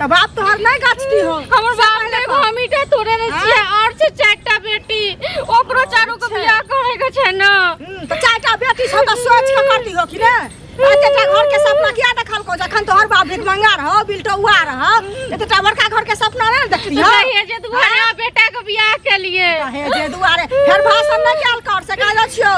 त बाप तोहर नहीं गाछ की हो हमर बाप ने एगो हमीटा तोड़े ने छिए और से चारटा बेटी ओकरो चारू के बियाह करे के छै न हम्म, त चारटा बेटी छ त सोच के करती हो कि ने एतेटा घर के सपना किया देखल को जखन तोहर बाप भीख मंगा रह बिलटौआ रह एतेटा बड़का घर के सपना नहीं देखती हो रहिए जे दुआरा बेटा के बियाह के लिए जे दुआरे फेर भाषण नहि कयल कर से कह दै छियो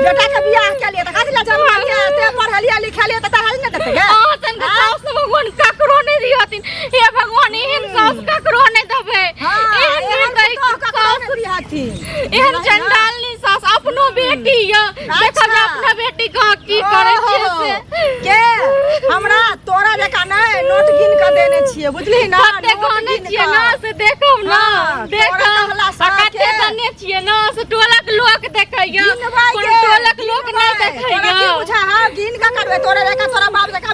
बेटा के बियाह के लिए त कथि ले जमा के ते पढ़लिए लिखलिए त तहल ने देते गे और तन के सास ने भगवान ककरो नहीं दी हथिन हे भगवान एहन सास ककरो नहीं देबे एहन निर्दयी सास ककरो नहीं दी हथिन एहन चंडालनी सास अपनो बेटी या देखो जे अपना बेटी को की करे छी से के हमरा तोरा जका नै नोट गिन के देने छिए बुझली ना कते गने छिए ना से देखो ना हाँ, देखो आ कते गने छिए ना से टोलक लोक देखैया कोन टोलक लोक नै देखैया बुझा हां गिन के करबे तोरा जका तोरा बाप जका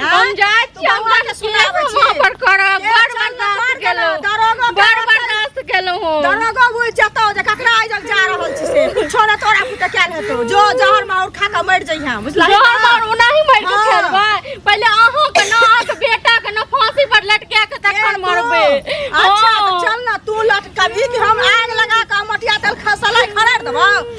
हम जाइ छी हम बौआ के सुनाबै छी। वहाँ पर करब एक बड़ साल बर्दाश्त मार केलहुँ केलहुँ, दरोगा बड़ बड़ा बर्दाश्त केलहुँ हम दरोगा बुझ जतौ जे ककरा आइ जब जा रहल छी से कुछो ने तोरा पुते क्या हेतौ जो जहर माहौर खा के मरि जइहा बुझला जोहर मार ओनाही मारि के हाँ। खेलबै पहिले अहाँ के ना अहाँ के बेटा के ना फांसी पर लटका के तखन मरबै अच्छा हाँ। तऽ चल ना तू लटकबी कि हम आग लगा के मटिया तेल खसला खड़ा देबौ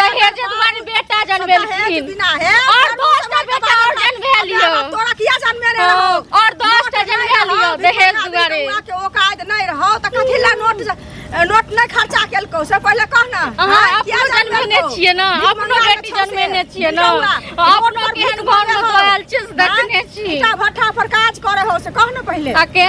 दहेज दुआरे बेटा जनबेलखिन बिना है और दोस्त का बेटा और जनबे लियो तोरा किया जनबे रे हो और दोस्त का जनबे लियो दहेज दुआरे के औकात नहीं रहो त कथि ला नोट नोट नहीं खर्चा केलको से पहले कह ना हां किया जनबे ने छिए ना अपनो बेटी जनबे ने छिए ना अपनो केहन घर में दोयल चीज देखने छी भट्ठा पर काज करे हो से कह ना पहले आ के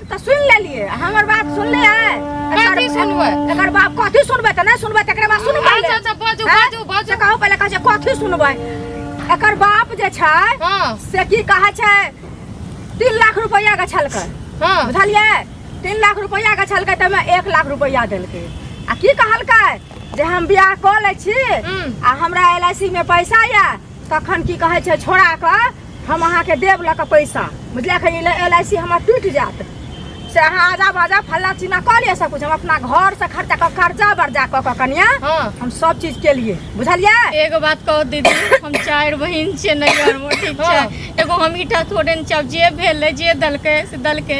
तऽ सुन लेलिए हमर बात सुन ले है कथी सुनबै एकर बाप कथी सुनबै तऽ नहि सुनबै तकरे बाद सुनबै अच्छा अच्छा बाजू हाँ? बाजू बाजू से कहू पहिले कहै छै कथी सुनबै एकर बाप जे छै हाँ से की कहै छै तीन लाख रुपैआ के छलकै हाँ बुझलिए तीन लाख रुपैआ के छलकै तऽ ओहिमे एक लाख रुपैआ देलकै आ की कहलकै जे हम बियाह कऽ लै छी हम्म। आ हमरा एल आई सी मे पैसा यऽ तखन की कहै छै छोड़ा कऽ हम अहाँके देब लऽ कऽ पैसा बुझलियै एखन एल आई सी हमर टूटि जायत से अहाँ आजा बाजा फल्ला चिन्ना कऽ लिअ सब कुछ हम अपना घर से खर्चा कऽ कर्जा बर्जा कऽ कऽ कनिया हाँ। हम सब चीज के लिए बुझलियै एगो बात कहू दीदी हम चारि बहिन छियै नैहरमे ठीक छै हाँ। एगो हम ईटा थोड़े ने चाहब जे भेलै जे देलकै से देलकै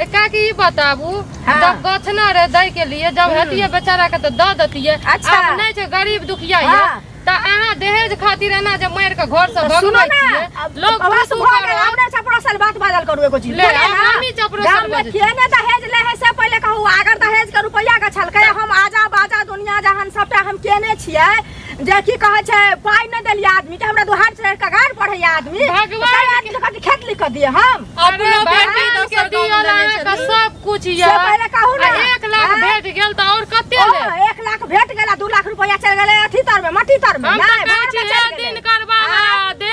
ए काकी ई बताबू हाँ। जब गछना रहे दै के लिए जब हतिये बेचारा के तो द दतिये अच्छा। अब नहीं छै गरीब दुखिया ये हाँ। त अहाँ दहेज खातिर एना जे मार के घर से तो सुनो भगबै ना छियै अब लोग बस खुश भऽ गेल करत। हमरा चपड़ा साल बात बाजल करू एगो चीज ले, बोले हम ना, हमही चपड़ा साल गाम में बाजै छी। केने दहेज ले है से पहिले कहू अगर दहेज के रुपैया के छलकै हम आजा बाजा दुनिया जहान सबटा हम केने छियै जे की कहै छै पाइ नहि देलियै आदमी के हमरा दुहार से कगार पढ़ै आदमी भगवान आदमी के कथी खेत लिख दिए हम अपनो बेटी दोसर गाँव लेने छथिन सब कुछ ये पहिले कहू ना एक लाख हाँ? भेट गेल त और कते ले एक लाख भेट गेल 2 लाख रुपया चल गेलै अथी तर में मट्टी तर में नहीं भाड़ में चल गेलै दिन करबा हाँ? दे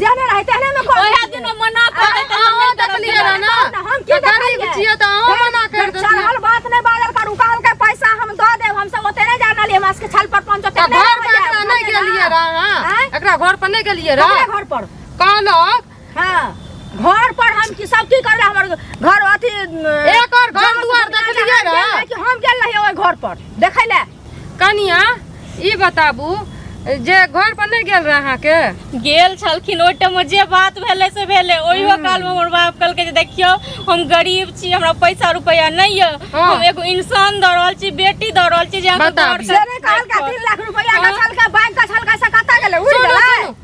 जाने रहे तहने में कह ओहे दिन में मना कर देते हम अहाँ देख देखलियै लियै रह ना ना, हम की तऽ गरीब देखलियै? छियै तऽ अहाँ मना कर देतियै चढ़ल बात नहीं बाजल कर उकाल के पैसा हम दऽ देब हम सब ओते नहीं जान लिए हमरा सबके छल पर पंच ओते तऽ नहीं घर पर एकरा नहीं गेलियै रह अहाँ आँय? एकरा घर पर नहीं गेलियै रह रह घर पर कहलक हाँ घर पर हम की सब की करले हमर घर अथी एक और घर दुआर देखलियै रह कि हम गेल रहियै ओहि घर पर देखै ले कनिया ई बताबू जे घर पर नहीं गेल रहे अहाँ के गेल छलखिन ओहि टाइम जे बात भेलै से भेलै ओहियो काल में हमर बाप कहलकै जे देखियो हम गरीब छी हमरा पैसा रुपया नहीं है हाँ। हम एगो इंसान दऽ रहल छी बेटी दऽ रहल छी जे अहाँके बताबी। घर से- से नहि कहलका तीन लाख रुपया गछलका बैंक गछलका से कतऽ गेलै उड़ि सुनू, गेलै सुनू।